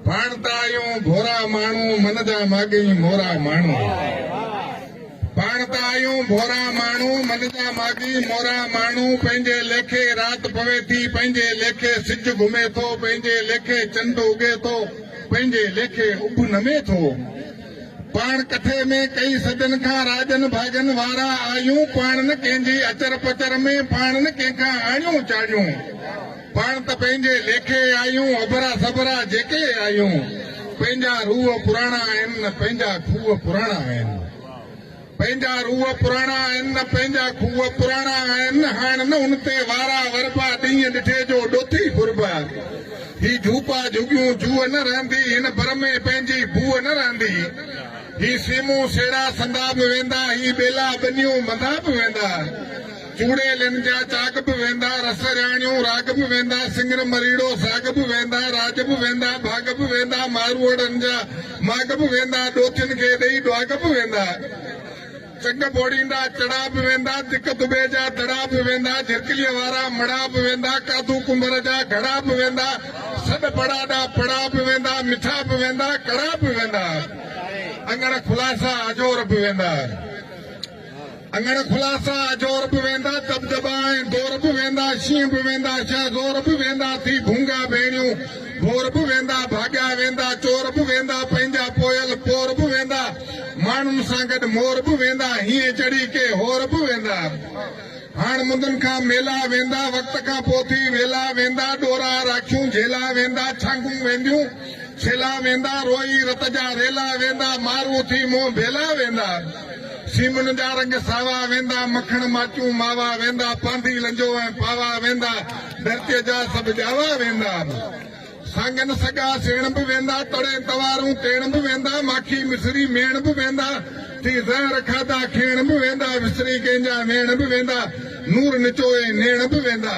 پاڻ ته آهيون ڀورا ماڻهو من جا ماڳئي مورا ماڻهو پاڻ ته آهيون ڀورا ماڻهو من جا ماڳئي مورا ماڻهو پنهنجي ليکي رات پوي ٿي پنهنجي ليکي سج گهمي ٿو پنهنجي ليکي چنڊ اگي ٿو پنهنجي ليکي اڀ نمي ٿو پاڻ ڪٿي ۾ ڪئي صدين کان راڄن ڀاڳن وارا آهيون پاڻ نه ڪنهن جي اچر پچر ۾ پاڻ نه ڪنهن کان آڻيون چاڙيون پاڻ ته پنهنجي ليکي آيون، اڀرا سڀرا جيڪي آيون، پنهنجا روح پراڻا آهن، پنهنجا کوهه پراڻا آهن. پنهنجا روح پراڻا آهن، پنهنجا کوهه پراڻا آهن، هاڻ نه ان تي وارا وربا، ڏينهن ڏٺي جو ڏوٿي ڦربا. هي جهوپا جهڳيون جوء نه رهندي، هن بر ۾ پنهنجي بوء نه رهندي. هي سيمون سيڙا سندا به ويندا، هي ٻيلا ٻنيون ٻندا به ويندا. چوڙيلين جا چاڳ به ويندا، رس رياڻيون راڳ به ويندا، سڱر مريڙو ساڳ به ويندا، راڄ به ويندا، ڀاڳ به ويندا، ماروئڙن جا ماڳ به ويندا، ڏوٿين کي ڏيئي ڏواڳ به ويندا، چنگ ٻوڙيندا چڙا به ويندا، دڪ دٻي جا دڙا به ويندا، جهرڪليء وارا مڙا به ويندا، ڪاڌو ڪنڀر جا گهڙا به ويندا، سڏ پڙاڏا پڙا به ويندا، مٺا به ويندا، ڪڙا به ويندا، اڱڻ کلاسا اجور به ويندا. اڱڻ خلاصا، اجور به ويندا، دٻدٻا ۽ دور به ويندا، شينهن به ويندا، شاهه زور به ويندا، ٿي ڀونگا ڀيڻيون، ڀور به ويندا، ڀاڳيا ويندا، چور به ويندا، پنهنجا پويل پور به ويندا، ماڻهن سان گڏ مور به ويندا، هينئن چڙهي ڪي هور به ويندا. هاڻ مندن کان ميلا ويندا، وقت کان پوء ٿي ويلا ويندا، ڏورا راکيون جهيلا ويندا، ڇانگون وينديون، ڇيلا ويندا، روئي رت جا ريلا ويندا، مارون ٿي منهن ڀيلا ويندا. سيمن جا رنگ ساوا ويندا، مکڻ ماچون ماوا ويندا، پانڌي لنجو ۽ پاوا ويندا، ڌرتيء جا سڀ ڄاوا ويندا. سانگن سڳا سيڻ به ويندا، تڙين توارون تيڻ به ويندا، ماکي مصري ميڻ به ويندا، ٿي زهر کاڌا کيڻ به ويندا، وسري ڪنهن جا ويڻ به ويندا، نور نچوئي نيڻ به ويندا.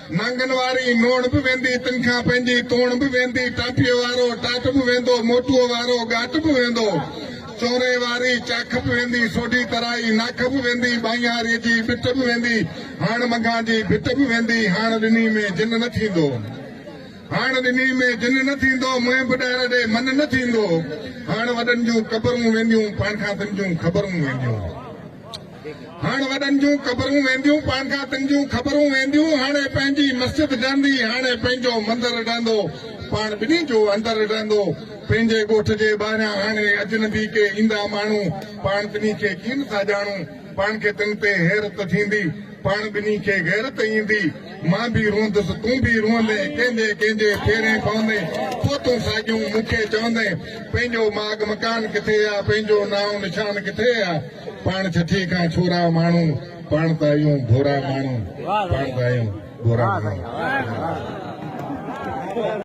نانگن واري نوڻ به ويندي، تن کان پنهنجي توڻ به ويندي، ٽاپيء وارو ٽاٽ به ويندو، موٽوء وارو ڳاٽ به ويندو، چوري واري چاک به ويندي، سوڍي ترائي ناک به ويندي، ٻانهياريء جي ٻٽ به ويندي، هاڻ منگهان جي ڀٽ به ويندي، هاڻ ڏني ۾ جن نه ٿيندو، هاڻ ڏني ۾ جن نه ٿيندو، منهن به ڏار ڏي من نه ٿيندو، هاڻ وڏن جون قبرون وينديون، پاڻ کان تن جون خبرون وينديون. هاڻ وڏن جون قبرون وينديون پان کان تن جون خبرون وينديون هاڻي پنهنجي مسجد ڊهندي هاڻي پنهنجو مندر ڊهندو پاڻ ٻنهي جو اندر ڊهندو پنهنجي ڳوٺ جي ٻاهريان هاڻي اجنبي ڪي ايندا ماڻهو پاڻ ٻنهي کي ڪين ٿا ڄاڻون پاڻ کي تن تي حيرت ٿيندي پاڻ ٻنهي کي غيرت ايندي. مان به روئندس تون به روئندين ڪنهنجي ڪنهنجي ڦيرين پوندين پوء تون ساڳيون مون کي چوندين پنهنجو ماڳ مڪان ڪٿي آ پنهنجو نانء نشان ڪٿي آ پاڻ ڇٺي کان ڇورا ماڻهو پاڻ ته آهيون ڀورا ماڻهو پاڻ ته آهيون ڀورا ماڻهو